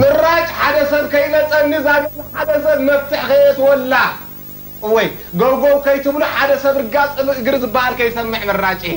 ምራጭ ሓደ ሰብ ከይመጸኒ እዛ ገዛ ሓደ ሰብ መፍትሕ ከየእትወላ እወይ ገውገው ከይትብሉ ሓደ ሰብ ርጋጽ እብ እግሪ ዝብሃል ከይሰምዕ ምራጭ እየ።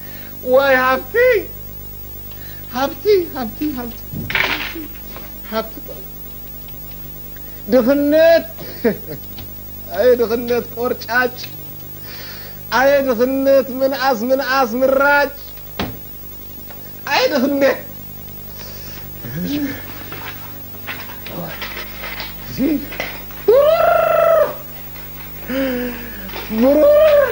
ዋይ ሃብተይ ሃብቲ ሃብቲ ሃብቲ ሃብቲ ጥራይ ድኽነት ኣየ ድኽነት ቆርጫጭ ኣየ ድኽነት ምንኣስ ምንኣስ ምራጭ ኣየ ድኽነት ብሩር ብሩር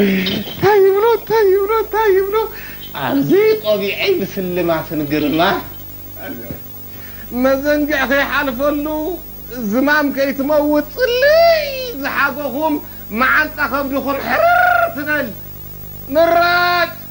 እንታይ ይብሎ እንታይ ይብሎ እንታይ ይብሎ ኣብዚ ቆቢዐይ ብስልማትን ግርማ መዘንግዕ ከይሓልፈሉ ዝማም ከይትመውት ጽልይ ዝሓጎኹም መዓንጣ ከብድኹም ሕርር ትበል ምራጭ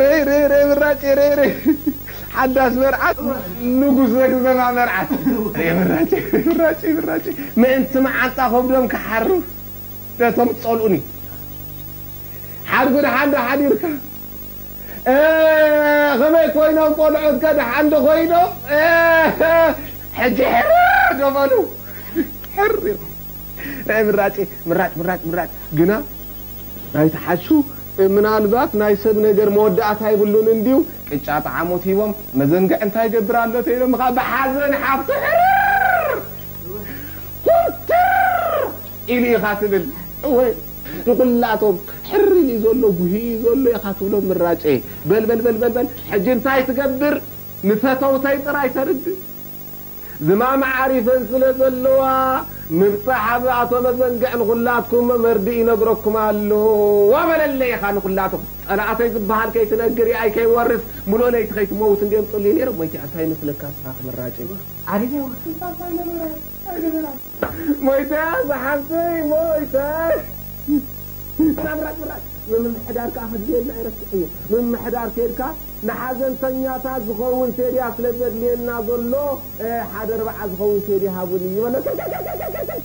ርይርይርይ ምራጭ ርይርይ ሓዳስ መርዓት ንጉስ ዘግዘማ መርዓት ርይ ምራጭ ርይምራጭ ምራጭ ምእንቲ መዓንጣ ከብዶም ክሓርፍ ነቶም ዝጸልኡኒ ሓርፊ ደሓን ዶ ሓዲርካ ከመይ ኮይኖም ቆልዑት ከ ደሓን ዶ ኮይኖም ሕጂ ሕርር ዶ በሉ ሕር ኢልኩም ርይ ምራጭ ምራጭ ምራጭ ምራጭ ግና ናይቲ ሓሹ ምናልባት ናይ ሰብ ነገር መወዳእታ የብሉን እንድዩ ቅጫ ጠዓሞት ሂቦም መዘንግዕ እንታይ ይገብር ኣሎ ተይሎም ከኣ ብሓዘን ሓፍቱ ሕርር ኩምትር ኢሉ ኢኻ ትብል እወ ንኹላቶም ሕርር ኢሉ ዘሎ ጉሂ ኢዩ ዘሎ ኢኻ ትብሎም ምራጨይ በል በል በል በል ሕጂ እንታይ ትገብር ንፈተውተይ ጥራይ ተርድእ ዝማም ዓሪፈን ስለ ዘለዋ ምብጻሕ ኣብ ኣቶ መዘንግዕ ንኹላትኩም መርድእ ይነግረኩም ኣሎ ዋ በለለይ ኢኻ ንኹላቶም ጸላኣተይ ዝብሃል ከይትነግር ያኣይ ከይወርስ ምሉእ ለይቲ ከይትመውት እንድዮም ጽልዩ ነይሮም ሞይቲኣ እንታይ ይመስለካ እስኻ ክምራጭ እዩ ዓሪፈ ዋ ስልጣን ታይ ነበራ ታይ ነበራ። ሞይተያ ዝሓፍተይ ሞይተ። ምምሕዳር ከኣ ከድልየና ኣይረስዕን'የ ምምሕዳር ኬድካ ንሓዘንተኛታት ዝኸውን ሴድያ ስለ ዘድልየና ዘሎ ሓደ ኣርብዓ ዝኸውን ሴድያ ሃቡኒ ይበሎ ከከከከከከከክ።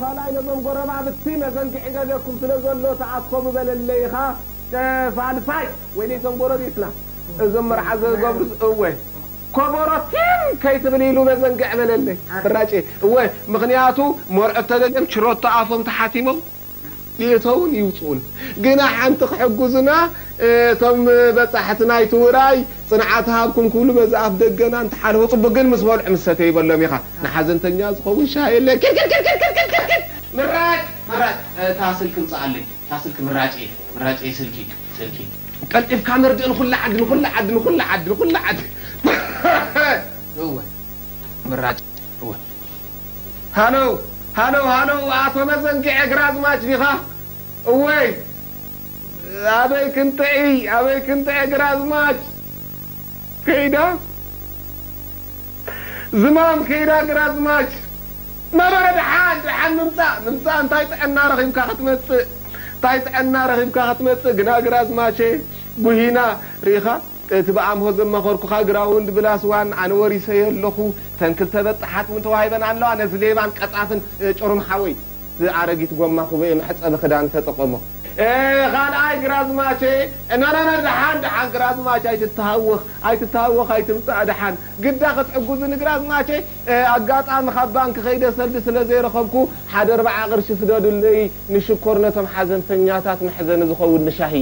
ኻልኣይ ነዞም ጎረባብቲ መዘንግዒ ገደኩም ስለ ዘሎ ተኣከቡ በለለይ ኢኻ ተፋልፋይ። ወይነይ እዞም ጎረቤትና እዞም መርዓ ዝገብሩስ እወ ኮቦሮ ቲም ከይትብል ኢሉ መዘንግዒ በለለይ ፍራጭ እወ ምኽንያቱ መርዑት ተደልዮም ችሮቶ ኣፎም ተሓቲሞም። ይእተዉን ይውጽኡን ግና ሓንቲ ክሕግዙና እቶም በጻሕቲ ናይቲ ውራይ ጽንዓት ሃብኩም ክብሉ በዚ ኣፍ ደገና እንተሓልፉ ጽቡቅ ግን ምስ በልዑ ምስ ሰተዩ በሎም ኢኻ ንሓዘንተኛ ዝኸውን ሻሂ የለን ኪርኪርኪርኪርኪርኪር ምራጭ ምራጭ እታ ስልኪ ምጻኣለይ እታ ስልኪ ምራጭ እየ ምራጭ እየ ስልኪ ስልኪ ቀልጢፍካ መርድእ ንኹላ ዓዲ ንኹላ ዓዲ ንኹላ ዓዲ ንኹላ ዓዲ እወ ምራጭ እወ ሃሎው ሃሎው ሃሎው ኣቶ መዘንግዔ ግራዝማች ዲኻ እዎይ ኣበይ ክንጥዕይ ኣበይ ክንጥዐ ግራዝማች ከይዳ ዝማም ከይዳ ግራዝማች ነበረ ደሓን ደሓን ምምጻእ ምምጻእ እንታይ ጥዕና ረኺብካ ክትመጽእ እንታይ ጥዕና ረኺብካ ክትመጽእ ግና ግራዝማቼ ጉሂና ርኢኻ እቲ ብኣምሆ ዘማኸርኩኻ ግራውንድ ብላስ ዋን ኣነ ወሪሰዮ ኣለኹ ተን ክልተ በጣሓት ውን ተዋሂበን ኣለዋ ነዚ ሌባን ቀጻፍን ጭሩም ሓወይ እቲ ኣረጊት ጎማ ኩበኤ መሕጸቢ ክዳን ተጠቐሞ። ካልኣይ ግራዝማቼ ኖኖኖ ደሓን ደሓን ግራዝማች ኣይትተሃወኽ ኣይትተሃወኽ ኣይትምጻእ ደሓን ግዳ ክትሕጉዙኒ ግራዝማቼ ኣጋጣሚ ካብ ባንኪ ከይደ ሰልዲ ስለ ዘይረኸብኩ ሓደ ኣርባዓ ቅርሺ ስደዱለይ ንሽኮር ነቶም ሓዘንተኛታት መሕዘኒ ዝኸውን ንሻሂ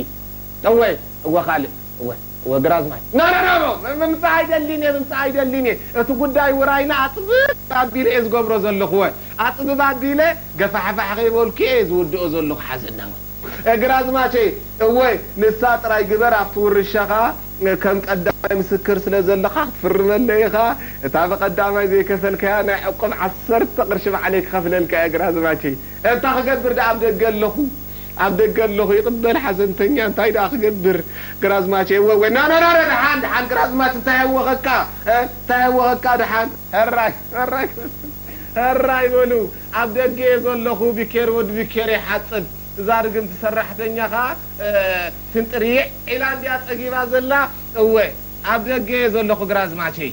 እወ እወ ካልእ እወ እወ ግራዝማች። ኖኖኖኖ ምምጻእ ኣይደሊን እየ ምምጻእ ኣይደሊን እየ እቲ ጉዳይ ውራይና ኣጽብብ ኣቢለ እየ ዝገብሮ ዘለኹ እወ ኣጽብብ ኣቢለ ገፋሕፋሕ ከይበልኩ እየ ዝውድኦ ዘለኹ ሓዘና እወ። ግራዝማቸይ እወ ንሳ ጥራይ ግበር ኣብቲ ውርሻኻ ከም ቀዳማይ ምስክር ስለ ዘለካ ክትፍርመለይ ኢኻ እታ ብቀዳማይ ዘይከፈልካያ ናይ ዕቁብ ዓሰርተ ቅርሺ ባዕለይ ክኸፍለልካ እየ ግራዝማቸይ እታ ክገብር ድኣ ኣብ ደገ ኣለኹ ኣብ ደገ ኣለኹ ይቕበል ሓዘንተኛ እንታይ ደኣ ክገብር ግራዝማች ኤወወ ናናናና ደሓን ደሓን ግራዝማች እንታይ ኣወኸካ እ እንታይ ኣወኸካ ደሓን። ሕራይ ሕራይ ሕራይ በሉ ኣብ ደገ እየ ዘለኹ ቢኬር ወዲ ቢኬር ይሓጽብ እዛ ርግምቲ ሰራሕተኛ ከኣ ፍንጥርይዕ ኢላ እንድያ ጸጊባ ዘላ እወ ኣብ ደገ እየ ዘለኹ ግራዝማቸይ።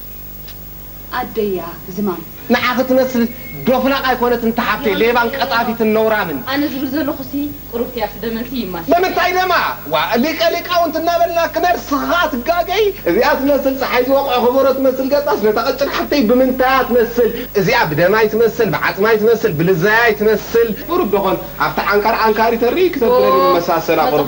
ኣደያ ዝማም። ንዓ ክትመስል ዶፍላቅ ኣይኮነትን እታ ሓብተይ ሌባን ቀጣፊትን ነውራምን። ኣነ ዝብል ዘለኩ ሲ ቁሩብ ቲያስ ደመን ሲ ይማስል። ብምንታይ ደማ ዋእ ሊቀ ሊቃውንት እናበልና ክነርስክ ከኣ ትጋገይ እዚኣ ትመስል ጸሓይ ዝወቅዖ ከበሮ ትመስል ገጻስ ነታ ቀጭን ሓፍተይ ብምንታያ ትመስል እዚኣ ብደማይ ትመስል ብዓጽማይ ትመስል ብልዛያይ ትመስል ቁሩብ ዶኾን ኣብቲ ዓንካር ዓንካሪ ተርኢ ክተብለኒ መሳሰላ ቁሩብ።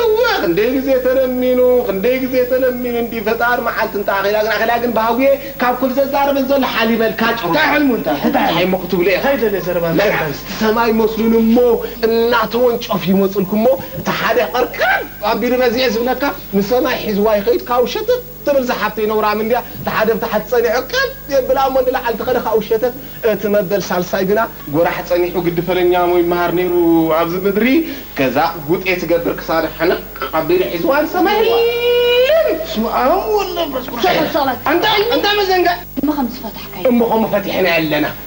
እወ ክንደይ ግዜ ተለሚኑ ክንደይ ግዜ ተለሚኑ እንድዩ ፈጣሪ መዓልቲ እንተ ኣኺላ ግን ኣኺላ ግን ባህጉየ ካብ ኩሉ ዘዛርበን ዘሎ ሓሊበልካ ጭሩሙ እንታይ ሕልሙ እንታይ እንታይ እሞ ክትብሉ ኢኺም ከይደለየ ዘረባ እንታይ እንታይ መልሓስቲ ሰማይ መስሉን እሞ እናተወንጨፉ ይመጹልኩሞ እቲ ሓደ ቅርቅር ኣቢሉ ረዚዐ ዝብለካ ንሰማይ ሒዝዋ ይኸይድ ካብኡ ሸተት ትብል እዛ ሓፍተይ ነውራም እንድያ ትሓደብ ታሕት ጸኒሑ ቀጥ የብላ እሞ ንላዕል ተኸደ ካብኡ ሸተት እቲ መበል ሳልሳይ ግና ጎራሕ ጸኒሑ ግዲ ፈለኛ እሞ ይመሃር ነይሩ ኣብዚ ምድሪ ገዛ ጉጤ ትገብር ክሳዳ ሕንቕ ኣቢሉ ሒዝዋ ንሰማይ ህልም በስመኣብ ወወልድ ወመንፈስ ቅዱስ ኣንታይ ኣንታይ መዘንግዕ እሞ ከም ዝፈታሕካዮ እሞ ከም ፈቲሕናዮ ኣለና።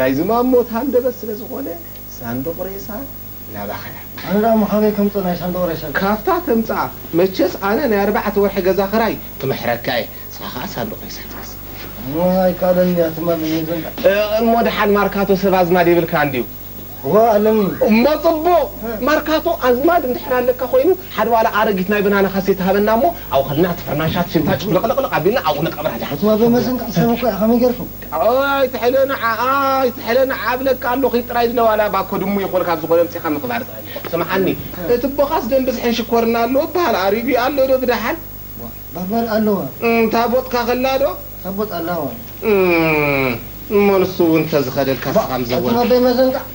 ናይ ዝማም ሞት ሃንደበት ስለ ዝኾነ ሳንዱቕ ሬሳ ናባኸያ። ኣነ ደኣ መኻነይ ከምጽእ ናይ ሳንዱቕ ሬሳይ። ካብታ ተምጽኣ መቸስ ኣነ ናይ ኣርባዕተ ወርሒ ገዛ ክራይ ክምሕረካ እየ ንስኻ ከኣ ሳንዱቕ ሬሳ ትገዝእ። እሞ ኣይከኣለንን እያ ትማል ንዘንድዓ። እሞ ደሓን ማርካቶ ሰብ ኣዝማድ የብልካን ድዩ። እወ ኣለኒ። እሞ ጽቡቕ ማርካቶ ኣዝማድ እንድሕር ኣለካ ኮይኑ ሓደ ዋላ ኣረጊት ናይ በናና ካሴታ ሃበና እሞ ኣብኡ ከድና እቲ ፍርናሻት ሽንታ ጭፍልቕልቕልቕ ኣቢልና ኣብኡ ንቀብራ ድሓን። እቲ ወዶ መሰንከ ሕሰብ እኮ እያ ከመይ ጌርኩም። ኣይ ኣይትሐለ ንዓኣ ኣይትሐለ ንዓኣ እብለካ ኣሎኺ ጥራይ ዝለዋላ ባኮ ድሙ ይኾን ካብ ዝኾነ ኣምጺኻ ምኽባር ጥራይ ስምዓኒ እቲ ቦኻስ ደም ብዝሕን ሽኮርን ኣሎ እብሃል ኣሪጉ ኣሎ ዶ ብደሓን ባባል ኣሎወ እም ታቦትካ ከላ ዶ ታቦት ኣላወ እም እሞ ንሱ ውን ተዝኸደልካ እስኻ ባእ ኣቱም ምዘወርካ። ኣደይ መዘንጋዕ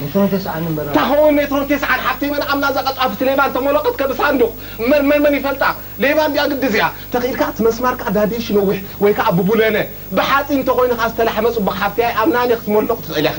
ሜትሮ ተስዓን እምበር ኣታ ከምኡ ሜትሮ ተስዓን ሓፍተይ መን ኣምና እዛ ቀጣፍቲ ሌባ እንተ ሞሎቀት ከብ ሳንዱቅ እምበር መን መን ይፈልጣ ሌባ እንድያ ግዲ እዚኣ ተኪኢልካ እቲ መስማር ከኣ ዳዲሽ ነዊሕ ወይ ከኣ ብቡለነ ብሓጺን እንተ ኮይኑ ከኣ ዝተላሕመ ጽቡቅ ሓፍተይ ኣይኣምናን እየ ክትሞልቅ ትክእሊ ኢኪ።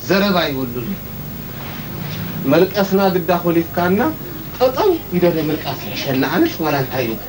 ዘረባ የብሉን እዩ መልቀስና ግዳ ኮሊፍካና ጠጠው ይደለ ምልቃስ ይሕሸና ኣነስ ዋላ እንታይ ይበል።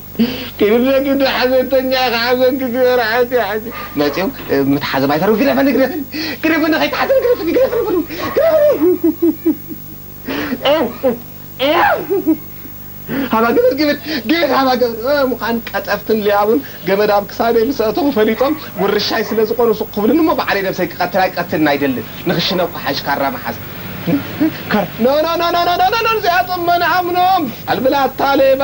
ክልተ ግደ ሓዘንተኛ ከኣ መንግስቲ መራሕቲ ሕጂ መጺኦም ምትሓዞም ኣይተርፍ ግደፈኒ ግደፈኒ ግደፈኒ ከይትሓዘኒ ግደፈኒ ግደፈኒ በሉ ግደፈኒ ሃባ ገመድ ገመድ ገመድ ሃባ ገመድ እ ምዃን ቀጠፍትን ሊያቡን ገመድ ኣብ ክሳደይ ምስ ኣእተኹ ፈሊጦም ውርሻይ ስለ ዝኾኑ ስቕ ክብሉኒ እሞ ባዕለይ ነብሰይ ክቐትል ኣይቀትልን ኣይደልን ንኽሽነ እኳ ሓይሽ ካራ ምሓዝ ኖኖኖኖኖኖኖኖ እዚኣቶም መን ኣምኖም ኣልብላታ ሌባ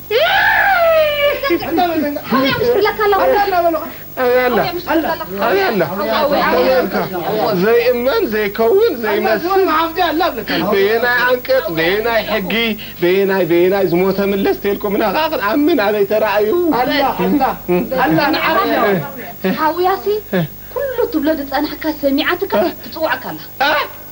ዘይእመን ዘይከውን ዘይመስል በየናይ ኣንቀጽ በየናይ ሕጊ በየናይ በየናይ ዝሞተ ምለስ ተልኩምና ከኣ ክንኣምን ኣበይ ተራእዩ ሓውያሲ ኩሉ ትብሎ ዝጸናሕካ ሰሚዓትካ ትጽውዓካ ኣላ።